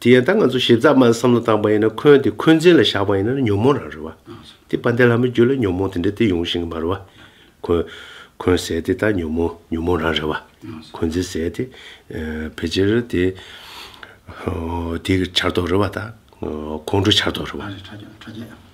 དེ་ཡང་ད་ང་ཚོ་ཞིབ་ཚགས་མ་བསམ་བློ་བཏང་པ་ཡིན་ན་འཁོན་དེ་འཁོན་འཛིན་ལ་བཞག་པ་ཡིན་ན་ཉོན་མོངས་རང་རེད་བ། དེ་པ་འདས་ལྷ་མོའི་རྒྱུད་ལ་ཉོན་མོངས་དེ་འདྲ་དེ་ཡོང་བཞིན་གི་མ་རེད་བ། འཁོན། འཁོན་ཟས་དེ་ད་ཉོན་མོངས་ཉོན་མོངས་རང་རེད་བ། འཁོན་འཛིན་ཟས་དེ། ཕལ་ཆེར་དེ། དེ་གི་ཆར་གཏོགས་རེད་བ་ད། ཁོང་ཁྲོ་ཆར་གཏོགས་རེད་བ།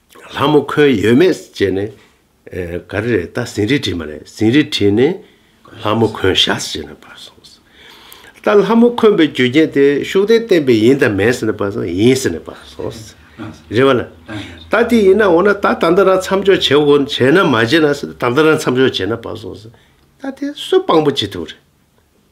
ལྷ་མོ་ཁོལ་ཡོད་མེད་བཅས་ནས། ག་རེ་རེད་ད་ཟིན་རིས་བྲིས་མ་རེད་ཟིན་རིས་བྲིས་ནས་ལྷ་མོ་ཁོན་བཞག་ཟེར་ནས་པར་སོང། ད་ལྷ་མོ་ཁོན་པའི་རྒྱུ་རྐྱེན་དེ་ཤུགས་ལྡན་བསྟན་པས་ཡིན་དང་མེད་ཟེར་ནས་པར་སོང་ཡིན་ཟེར་ནས་པར་སོང། རེད་བ་ལ། ད་དེ་ཡིན་ན་འོ་ན་ད་ད་ལྟ་རང་མཚམས་འཇོག་བྱེད་དགོ་བྱས་ན་མ་བྱས་ན་ཟེར་ནས་ད་ལྟ་རང་མཚམས་འཇོག་བྱས་ན་པར་སོང། ད་དེ་སུ་དཔང་པོ་བྱེད་ཐུབ་རེད།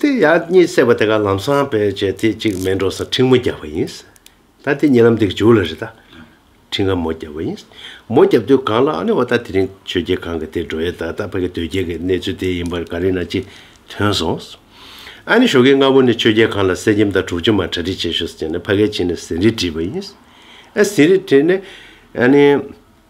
དེ་ཡག་གཉིས་བསྲེས་པ་དེ་ག་ལམ་སང་བེད་སྤྱད་དེ་གཅིག་སྨན་གྲོགས་སར་ཁྲིང་མོ་རྒྱག་པ་ཡིན། ད་དེ་གཉིས་ལམ་དེ་ག་འཇུག་ལ་རེ་ད། ཁྲིང་ག་མོ་རྒྱག་པ་ཡིན། མོ་རྒྱབ་དུས་གང་ལ་ཨ་ནི་བ་ད་དེ་རིང་ཆོས་རྒྱལ་གང་ག་དེ་འགྲོ་ཡས་ད་ད་ཕ་གི་དོལ་རྒྱལ་གི་གནས་ཚུལ་དེ་ཡིན་པར་ག་རེ་ན་ཅི་ཐོན་སོང། ཨ་ནི་ཞོགས་ཀྱི་སྔ་བོ་ནི་ཆོས་རྒྱལ་གང་ལ་གསེར་སྐྱེམས་དང་དྲུག་ཅུ་མ་གྲ་སྒྲིག་བྱེད་ཞོགས་ཟེར་ནས་ཕ་གའི་ཕྱི་ནས་ཟིན་རིས་བྲིས་པ་ཡིན། ཨ་ཟིན་རིས་བྲིས་ནས་ཨ་ནི།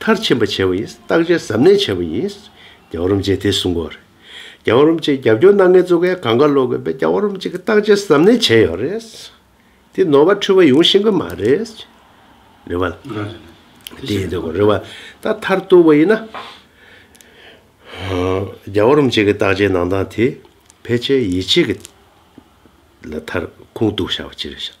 མཐར་ཕྱིན་པ་བྱེད་པ་ཡིན། བརྟག་དཔྱད་གཟབ་ནན་བྱེད་པ་ཡིན། རྒྱ་བ་རུམ་བཅས་དེ་གསུམ་གོ། རྒྱ་བ་རུམ་བཅས་རྒྱབ་སྐྱོར་གནང་མཁན་གཙོ་གལ་གང་དགར་ལོག་དགོས་པས་རྒྱ་བ་རུམ་བཅས་ཀྱི་བརྟག་དཔྱད་གཟབ་ནན་བྱས་ཡོད་རེད། དེ་ནོར་བ་འཁྲུལ་བ་ཡོང་ཤེས་གི་མ་རེད། རེད་བ། དེ་ཡིན་དགོས་རེད་བ། ད་མཐར་གཏུགས་པ་ཡིན་ན། རྒྱ་བ་རུམ་བཅས་ཀྱི་བརྟག་དཔྱད་གནང་སྟངས་དེ་ཕལ་ཆེར་ཡིད་ཆེས་ཀྱི་ལ་མཐར་ཁུངས་གཏུགས་བྱ་བ་ཅི་རེད་བྱ།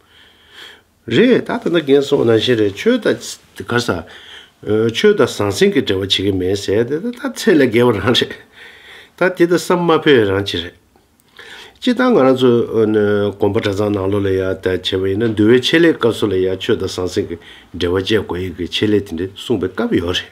རེད་ད་ད་ནི་རྒན་སོང་ན་བཞིན་རེད་ཆོས་དང། ག་ས། ཆོས་དང་ཟང་ཟིང་གི་འབྲེལ་བ་བྱེད་ཀྱི་མེད་ཟེར་དེ་ད་ད་ཚད་ལས་བརྒལ་བ་རང་རེད། ད་དེ་ད་ས་དམའ་ཕོད་རང་གཅིག་རེད། སྤྱིར་བཏང་ང་རང་ཚོ། གོམ་པ་གྲྭ་ཚང་ནང་ལོགས་ལ་ཡ་ད་བྱས་པ་ཡིན་ན་འདུལ་བའི་ཆེད་ལས་སྐབས་སུ་ལ་ཡ་ཆོས་དང་ཟང་ཟིང་གི་འབྲེལ་བ་བཅད་དགོས་ཡི་གི་ཆེད་ལས་དེ་འདྲས་གསུངས་པའི་སྐབས་ཡོད་རེད།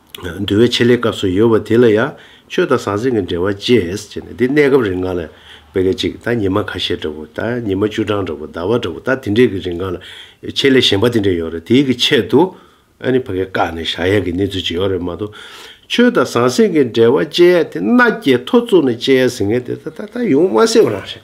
འདུལ་བའི་ཆེད་ལས་སྐབས་སུ་ཡོད་པ་དེ་ལ་ཡང་ཆོས་དང་ཟང་ཟིང་གི་འབྲེལ་བ་བཅས་བྱས་ནས་འདི་གནས་སྐབས་རིང་གང་ལ་བད་ཀ་ཅིག་ད་ཉི་མ་ཁ་ཤས་འདྲ་བོ་ད་ཉི་མ་བཅུ་གྲངས་འདྲ་བོ་ཟླ་བ་འདྲ་བོ་ད་དེ་འདྲས་ཀྱི་རིང་གང་ལ་ཆེད་ལས་གཞན་པ་དེ་འདྲས་ཡོད་རེད་དེའི་གི་ཆེད་དུ་ཨ་ནི་བད་ཀ་བཀག་ནས་བཞག་ཡ་གི་གནས་ཚུལ་ཅིག་ཡོད་རེད་མ་གཏོགས་ཆོས་དང་ཟང་ཟིང་གི་འབྲེལ་བ་བཅས་ཡ་དེ་མནའ་སྐྱེལ་ཐོ་བཙུགས་ནས་བཅས་ཡ་ཟིན་ངེས་དེ་ད་ད་ད་ཡོང་མ་སྲིད་པ་རང་རེད།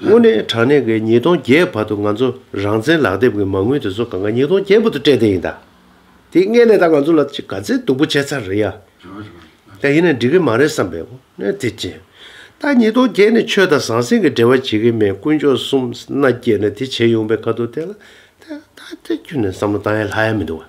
དངོས་གནས་དྲང་གནས་ཀྱི་ཉིས་སྟོང་བརྒྱད་བར་དུ་ང་ཚོ་རང་བཙན་ལག་དེབ་ཀྱི་མ་དངུལ་དེ་ཚོ་གང་གཱ་ཉིས་སྟོང་བརྒྱད་བར་དུ་སྤྲད་བསྡད་ཡིན་ད། དེ་སྔས་ནས་ད་ང་ཚོ་ལ་ཅི་ག་ཚད་སྡུག་པོ་བྱས་ཚར་རེད་ཡ། ད་ཡིན་ན་འགྲིག་གི་མ་རེད་བསམ་པའི་དངོས་གནས་དེ་ཅི། ད་ཉིས་སྟོང་བརྒྱད་ནས་ཆོས་དང་ཟང་ཟིང་གི་འབྲེལ་བ་བྱེད་ཀྱི་མེད་དཀོན་མཆོག་གསུམ་མནའ་བསྐྱེལ་ནས་དེ་བྱས་ཡོང་པའི་ཁ་ཐུག་དེ་ལ་ད་ད་ད་ཁྱོད་ནས་བསམ་བློ་བཏང་ཡ་ལྷག་ཡ་མི་འདུག་ག།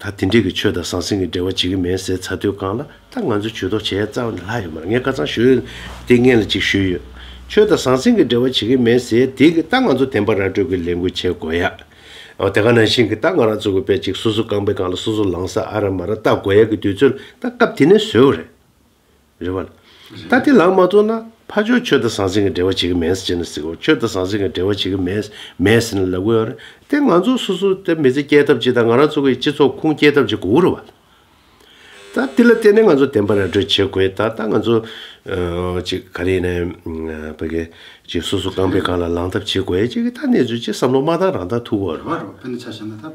ད་དེ་འདྲས་ཀྱི་ཆོས་དང་ཟང་ཟིང་གི་འབྲེལ་བ་བྱེད་ཀྱི་མེད་ཟེར་ཚར་དུས་གང་ལ་ད་ང་ཚོས་ཇུས་གཏོགས་བྱེད་ཡ་རྩ་བ་ནས་ལྷག་ཡོད་མ་རེད་ངས་བཀའ་ཚང་ཞུས་ཏེ་ངས་ལ་ཅིག་ཞུས་ཡོད་ཆོས་དང་ཟང་ཟིང་གི་འབྲེལ་བ་བྱེད་ཀྱི་མེད་ཟེར་དེ་གི་ད་ང་ཚོ་དེང་པ་ར་སྤྲོད་ཀྱི་ལས་འགུལ་བྱེད་དགོས་ཡ་དེ་ག་ནང་བཞིན་གི་ད་ང་རང་ཚོ་གི་བས་ཅིག་སོ་སོ་རྐང་པའི་གང་ལ་སོ་སོ་ལངས་ས་ཨ་ར་མ་ར་བལྟ་དགོས་ཡ་གི་དུས་ཚོད་ལ་ད་སྐབས་དེ་ནས་བཟོས་བ་རེད། རེད་བ། ད་ལྟའི་ལག་མ་བཙོང་ན་ཕ་ཆོས་ཁྱོད་དང་ཟང་ཟིང་གི་འབྲེལ་བ་བྱེད་ཀྱི་མེད་ཟེར་ནས་ཟིག་ཁྱོད་དང་ཟང་ཟིང་གི་འབྲེལ་བ་བྱེད་ཀྱི་མེད་མེད་ཟེར་ནས་ལབ་གི་ཡོད་རེད་དེ་ང་ཚོ་སོ་སོ་དེ་མི་ཚེ་སྐྱེལ་ཐབས་ཅིག་དང་ང་རང་ཚོ་གི་སྤྱི་ཚོགས་ཁུངས་སྐྱེལ་ཐབས་ཅིག་དགོས་རེད་བ། ད་དེ་ལ་བརྟེན་ནས་ང་ཚོ་དེ་འབའ་ར་སྒྲོལ་བྱེད་དགོས་ད་ལྟ་ང་ཚོ་ཅིག་ག་རེ་ཡིན་ན་བོད་གི་ཅིག་སོ་སོ་རྐང་པའི་སྒང་ལ་ལངས་ཐབས་བྱེད་དགོས་ཅིག་གི་ད་གནས་ཚུལ་ཅིག་བསམ་བློ་མ་བཏང་རང་ད་ཐུག་གོ་རེད་བ།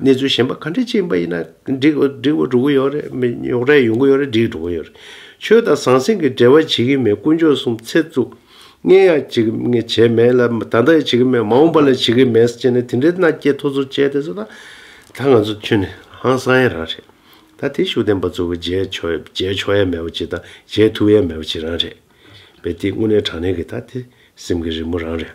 གནས་ཚུལ་གཞན་པ་ག་འདྲས་ཅིག་ཡིན་པ་ཡིན་ན་འགྲིག་འགྲིག་འགྲོ་གི་ཡོད་རེད་མི་ཡོང་རེ་ཡོང་གི་ཡོད་རེད་འགྲིག་འགྲོ་གི་ཡོད་རེད། ཆོས་དང་ཟང་ཟིང་གི་འབྲེལ་བ་བྱེད་ཀྱི་མེད་དཀོན་མཆོག་གསུམ་ཚེ་བཙུགས། ངས་ཡང་བྱེད་ཀྱི་ངས་བྱས་མེད་ལ་ད་ལྟ་ཡང་བྱེད་ཀྱི་མེད་མ་འོངས་པ་ལ་བྱེད་ཀྱི་མེད་ཅེས་ནས་དེ་འདྲའི་མནའ་སྐྱེལ་ཐོ་ཚུར་བཅད་དེ་ཚོ་ད་ད་ང་ཚོ་ཁྱོད་ནི་ཧང་སང་ཡ་རང་རེད། ད་དེ་ཤུགས་ལྡན་པ་ཚོ་གི་མཇལ་ཆོག་མཇལ་ཆོག་ཡ་མེད་པ་ཅིག་དང་མཇལ་ཐུབ་ཡ་མེད་པ་ཅིག་རང་རེད། བས་དེ་དངོས་གནས་དྲང་གནས་ཀྱི་ད་དེ་སེམས་ཀྱི་རི་མོ་རང་རེད།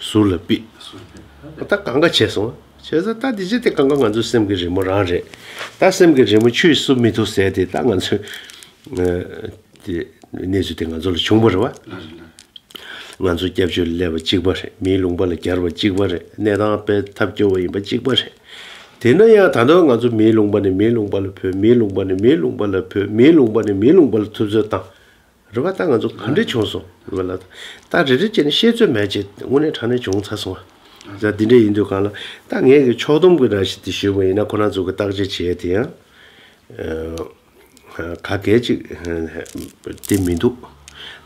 ཟུར་ལ་པིས། ད་གང་ག་བྱས་སོང། བྱས་ཟ་ད་འདི་ཅི་སྟེ་གང་ག་ང་ཚོའི་སེམས་ཀྱི་རི་མོ་རང་རེད། ད་སེམས་ཀྱི་རི་མོ་ཆུས་བསུབ་མི་ཐུབ་ཟེར་ཏེ་ད་ང་ཚོས། དེ་གནས་ཚུལ་དེ་ང་ཚོ་ལ་བྱུང་པ་རེད་བ། ང་ཚོ་སྐྱབས་བཅོལ་སླེབས་པ་གཅིག་པ་རེད་མིའི་ལུང་པ་ལ་གྱར་བ་གཅིག་པ་རེད་གནས་སྟངས་སྤེལ་ཐབས་སྐྱོ་བ་ཡིན་པ་གཅིག་པ་རེད། དེས་ན་ཡང་ད་དུང་ང་ཚོ་མིའི་ལུང་པ་ནས་མིའི་ལུང་པ་ལ་བུད་མིའི་ལུང་པ་ནས་མིའི་ལུང་པ་ལ་བུད་མིའི་ལུང་པ་ནས་མིའི་ལུང་པ་ལ་ཐུབ་ཚོད་བཏང། རེ་བ་ད་ང་ཚོ་ག་འདྲས་བྱུང་སོང་བས་ལ་ད་རེ་རེ་བྱས་ནས་ཤེས་ཚོད་མེད་ཅེས་དངོས་གནས་དྲང་གནས་བྱུང་ཚར་སོང་བས་ད་འདི་འདྲས་ཡིན་དུས་གང་ལ་ད་ངེད་ཀྱིས་ཕྱོགས་སྡོམ་གྱི་ར་བཞི་དེ་ཞུས་པ་ཡིན་ན་ཁོ་རང་ཚོ་གིས་བརྟག་དཔྱད་བྱས་དེ་ཡང་ག་གལ་ཅིག་དེ་མི་འདུག་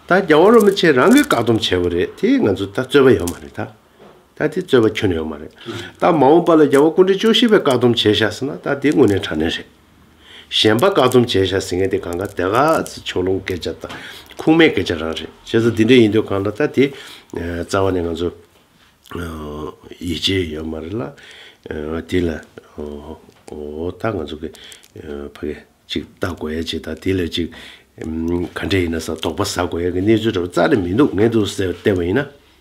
ད་རྒྱ་བོ་རོ་མི་ཆེ་རང་གིས་བཀག་སྡོམ་བྱས་པ་རེད་དེ་ང་ཚོ་ད་རྩོད་པ་ཡོད་མ་རེད་ད་ད་དེ་རྩོད་པ་ཁྱོན་ཡོད་མ་རེད་ད་མ་འོངས་པ་ལ་རྒྱ་བོ་སྐུ་འདྲེ་ཅོ་ཤི་བས་བཀག་སྡོམ་བྱས་བཞག་ཟེར་ན་ད་དེ་དངོས་གནས་དྲང་གནས་རེད། གཞན་པ་བཀག་སྡོམ་བྱས་བཞག་ཟིན་མཁན་དེ་གང་གཱ་དེ་ག་ཚི་ཕྱོགས་ལྷུང་སྐད་ཆ་དང་ཁུངས་མེད་སྐད་ཆ་རང་རེད་བྱས་ཙང་དེ་འདྲ་ཡིན་དུས་གང་ལ་ལྟ་དེ་རྩ་བ་ནས་ང་ཚོ་ཡིད་ཆེས་ཡོད་མ་རེད་ལ་དེ་ལ་ད་ང་ཚོ་གི་ཕ་གི་ཅིག་ལྟ་དགོས་ཡ་ཅིག་དང་དེ་ལ་ཅིག་ག་འདྲ་ཡིན་ན་ས་དོག་པ་ཟ་དགོས་ཡ་གི་གནས་ཚུལ་འདྲ་བ་རྩ་ནས་མི་འདུག་ངས་འདུག་ཟེར་བལྟས་པ་ཡིན་ན།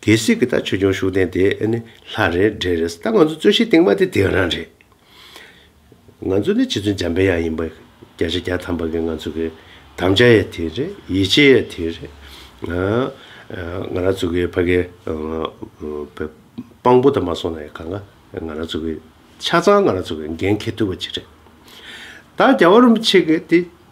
གལ་སྲིད་གི་ད་ཆོས་འབྱུང་ཤུགས་ལྡན་དེ་ནི་ལྷ་རེད་འདྲེ་རེད་ད་ང་ཚོ་རྩོད་གཞི་སྟེང་མ་དེ་དེ་རང་རེད། ང་ཚོ་ནི་ཕྱི་ཚུལ་འཇམ་པའི་ཡང་ཡིན་པ་བརྒྱ་ཆ་བརྒྱ་ཐམ་པ་གི་ང་ཚོ་གི་དམ་བཅའ་ཡང་དེ་རེད་ཡིད་ཆེས་ཡང་དེ་རེད། ང་རང་ཚོ་གི་ཕ་གི་དཔང་པོ་དང་མ་སོང་ན་ཡང་གང་ང་རང་ཚོ་གི་ཆ་ཚང་ང་རང་ཚོ་གི་འགན་འཁྱེར་ཐུབ་པ་ཅིག་རེད། ད་རྒྱ་བ་རུམ་ཆེ་གི་དེ།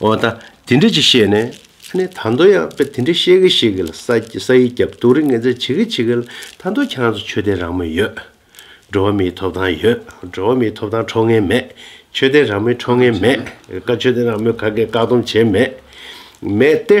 འོ་ད་དེ་འདྲ་ཅིག་བཤད་ནས། ཨ་ནེ་ད་མདོ་ཡག་པོ་དེ་འདྲ་བཤད་གི་བཤད་གི་ལ་ས་ཡི་རྒྱབ་གཏུགས་རིགས་ངན་ཚད་བྱེད་གི་བྱེད་གི་ལ་ད་མདོ་ཁྱེད་རང་ཚོ་ཆོས་ལྡན་རང་མོས་ཡོད། འགྲོ་བ་མིའི་ཐོབ་ཐང་ཡོད་འགྲོ་བ་མིའི་ཐོབ་ཐང་འཕྲོག་ངན་མེད། ཆོས་ལྡན་རང་མོས་འཕྲོག་ངན་མེད། ཆོས་ལྡན་རང་མོས་ག་གེ་བཀག་སྡོམ་བྱེད་མེད། མེད་དེ།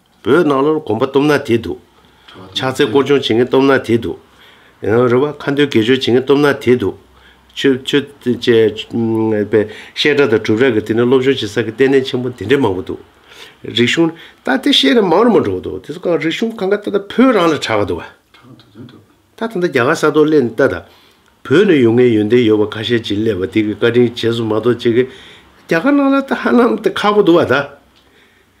བོད་ནང་ལོར་གོམ་པ་སྟོབས་ནག་དེ་འདུག། ཕྱག་འཚལ་སྐོར་སྦྱོང་བྱེད་མཁན་སྟོབས་ནག་དེ་འདུག། རེ་བ་ཁ་འདོན་དགེ་སྦྱོར་བྱེད་མཁན་སྟོབས་ནག་དེ་འདུག། ཆོས་ཆོས་བཤད་གྲྭ་དང་གྲུབ་རྭ་གི་དེ་ནས་སློབ་སྦྱོང་བྱེད་ས་གི་ལྟེ་གནས་ཆེན་པོ་དེ་འདྲའི་མང་པོ་འདུག། རིག་གཞུང། ད་དེ་བཤད་ན་མང་རུ་མང་འགྲོ་གི་འདུག་དེ་ཚོ་གང་རིག་གཞུང་གང་ག་ད་ད་བོད་རང་ལ་གྲགས་གི་འདུག་བ། ད་ད་ད་རྒྱ་གར་ས་ཐོག་སླེབས་ནས་ད་ད། བོད་ནས་ཡོང་མཁན་ཡོན་ཏན་ཡོད་པ་ཁ་ཤས་ཅིག་སླེབས་པ་དེ་གི་བཀའ་དྲིན་བྱས་སོ་མ་གཏོགས་ཅི་གི། རྒྱ་གར་ནང་ལ་ད་ཧ་ལམ་ད་ཁག་པོ་འདུག་བ་ད།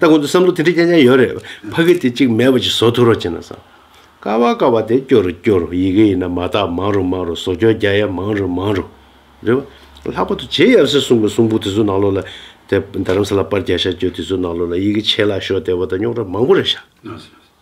ལྟ་གོ་ཏོ་བསམ་བློ་དེ་འདྲ་སྐྱ་སྐྱ་ཡོད་རེད། ཕ་གི་དེ་གཅིག་མེད་པ་ཅིག་བཟོ་ཐུབ་རོགས་བྱས་ན་བཟང། དཀའ་བ་དཀའ་བ་དེ་སྐྱོ་རུ་སྐྱོ་རུ་ཡི་གེ་ཡིན་ན་མ་དག་མང་རུ་མང་རུ་བཟོ་སྐྱོ་རྒྱ་ཡ་མང་རུ་མང་རུ། རེད་བ། ལྷག་པ་དུ་རྗེ་ཡབ་སྲས་གསུང་པའི་གསུང་པོ་དེ་ཚོ་ནང་ལོགས་ལ། དེ་རྡ་རམ་ས་ལ་པར་རྒྱ་ཤ་རྒྱོ་དེ་ཚོ་ནང་ལོགས་ལ་ཡི་གེ་ཆད་ལ་ཤོག་དེ་བ་དང་རྙོག་དྲ་མང་པོ་རེད་བཞག།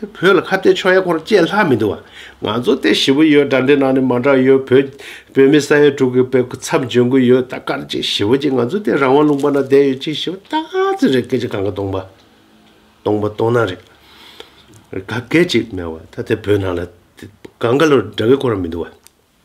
དེ་བོད་ལ་ཁ་གཏད་ཕྱོགས་ཡ་སྐོར་བཅས་ལྷག་མི་འདུག་བ། ང་ཚོ་སྟེ་ཞི་བོ་ཡོད་དགྲ་འདྲེ་ནང་ནས་མ་འདྲ་ཡོད་བོད། བོད་མི་ས་ཡ་དྲུག་གི་བེ་ཁུ་ཚབ་འཇོན་གུ་ཡོད་ད་དཀར་ཅིག་ཞི་བོ་ཅིག་ང་ཚོ་སྟེ་རང་དབང་ལུང་པ་ན་བསྡད་ཡོད་ཅིག་ཞི་བོ་སྟག་རྩེ་རེད་སྐད་ཅིག་གང་ག་སྟོང་པ། སྟོང་པ་སྟོང་ན་རེད། ག་སྐད་ཅིག་སྨྲས་བ་ད་དེ་བོད་ནང་ལ། གང་ག་ལོར་འདྲ་བེ་སྐོར་མི་འདུག་བ།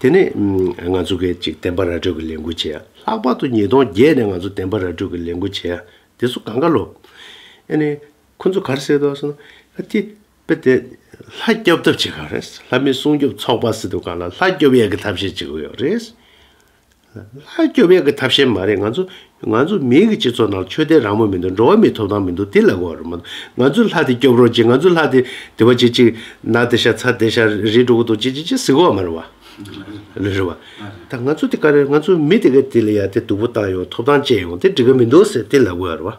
དེ་ནས་ང་ཚོ་སྐད་ཅིག་བདེན་པ་ར་སྤྲོད་ཀྱི་ལས་འགུལ་བྱས། ལྷག་པར་དུ་ཉིས་སྟོང་བརྒྱད་ནས་ང་ཚོ་བདེན་པ་ར་སྤྲོད་ཀྱི་ལས་འགུལ་བྱས། དེ་ཚོ་གང་ག་ལོག། ཨེ་ནས། ཁོ་ཚོ་གར་བསད་འདུག་ཟེར་ན། ཨ་ཏི། དཔེ་དེ། ལྷ་སྐྱོབ་ཐབས་བྱེད་ག་རེ། ལྷ་མི་སྲུང་སྐྱོབ་ཚོགས་པ་སྲིད་དུ་ག་ལ་ལྷ་སྐྱོབ་ཡ་གི་ཐབས་ཤེས་བྱེད་ཀྱི་ཡོད་རེད། ལྷ་སྐྱོབ་ཡག་གི་ཐབས་ཤེས་མ་རེད་ང་ཚོ། ང་ཚོ་མིའི་གི་སྤྱི་ཚོགས་ནང་ཆོས་དད་རང་མོས་མི་འདུག་འགྲོ་བ་མིའི་ཐོབ་ཐང་མི་འདུག་དེ་ལ་གོ་རེ་མ་ང་ཚོས་ལྷ་དེ་སྐྱོབ་རོགས་གྱིས་ང་ཚོས་ལྷ་དེ་དེ་བ་ཅིག་ཅིག་ནག་དེ་ཤ་ཚ་དེ་ཤ་རིལ་འགྲོ་གི་འདུག་ཅིག་ཅིག་ཅིག་ཟིག་གོ་ར་མ་རེད་བ། ལེ་རེད་བ། ད་ང་ཚོ་དེ་ག་རེ་ང་ཚོ་མི་དེ་ག་དེ་ལ་ཡ་དེ་སྡུག་པོ་བཏང་ཡོང་ཐོབ་ཐང་བཅད་ཡོང་དེ་འགྲིག་གི་མི་འདུག་ཟེར་དེ་ལ་གོ་རེད་བ།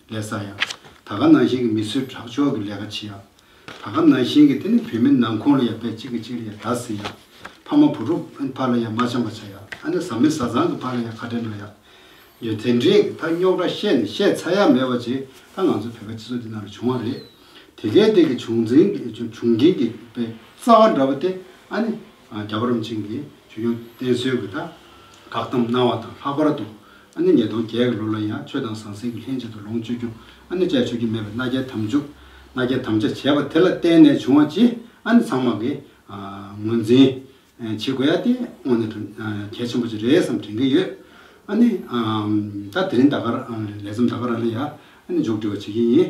ལས་ས་ཡ། ད་ག་ནང་བཞིན་གྱི་མི་གསོད་ཁྲག་སྦྱོར་གྱི་ལས་ཀ་བྱེད་ཡ། ད་ག་ནང་བཞིན་གྱི་དེ་ནི་བུད་མེད་ནང་ཁོང་ལ་ཡ་དཔེ་གཅིག་གི་གཅིག་ལ་ཡ་ད་ཟེར་ཡ། ཕ་མ་བུ་ཕྲུག་ཕ་ལ་ཡ་མ་བྱམས་པ་བྱ་ཡ་ཨ་ནེ་བཟའ་མི་བཟའ་ཚང་གི་ཕ་ལ་ཡ་ཁ་བྲལ་འགྲོ་ཡ། ཡོད་དེ་འདྲས་ཀྱི་ད་རྙོག་དྲ་བཤད་ནས་བཤད་ཚར་ཡ་མེད་བ་ཅིག་ད་ང་ཚོ་བོད་པའི་སྤྱི་ཚོགས་འདི་ནང་ལ་བྱུང་བ་རེད། དེ་གའི་སྟེང་གི་བྱུང་འཛིན་བྱུང་རྐྱེན་གྱི་དཔེ་རྩ་བ་འདྲ་བོ་སྟེ་ཨ་ནེ། རྒྱ་གར་རིན་ཆེན་གྱིས་ཇོ་ཇོ་བསྟེན་གསོལ་གྱི་དག་དག་དམ་གནང་བ་དང་ལྷག་པར་དུ། ཨ་ནི་ཉིས་སྟོང་བརྒྱད་ཀྱི་ལོ་ལ་ཡང་ཆོས་དང་ཟང་ཟིང་གི་ལྷན་ཅིག་ཏུ་ལོངས་སྤྱོད་རྒྱུ་ཨ་ནི་བཅས་ཆོས་རྒྱུན་མེད་པའི་མནའ་བསྐྱལ་དམ་འཇུག་མནའ་བསྐྱལ་དམ་བཅའ་བྱས་པ་དེ་ལ་བརྟེན་ནས་བྱུང་བ་ཅི་ཨ་ནི་ཚང་མ་གིས་ངོས་འཛིན་བྱེད་དགོས་ཡ་དེ་དངོས་ནས་དོན་གལ་ཆེན་པོ་ཅིག་རེད་བསམ་དྲན་གྱི་ཡོད། ཨ་ནི། ད་དེ་རིང་ད་གར་ལས་བརྩམས་ད་གར་ཨ་ལ་ཡ་ཨ་ནི་མཇུག་སྒྲིལ་བ་བྱེད་ཀྱིན་ཡིན།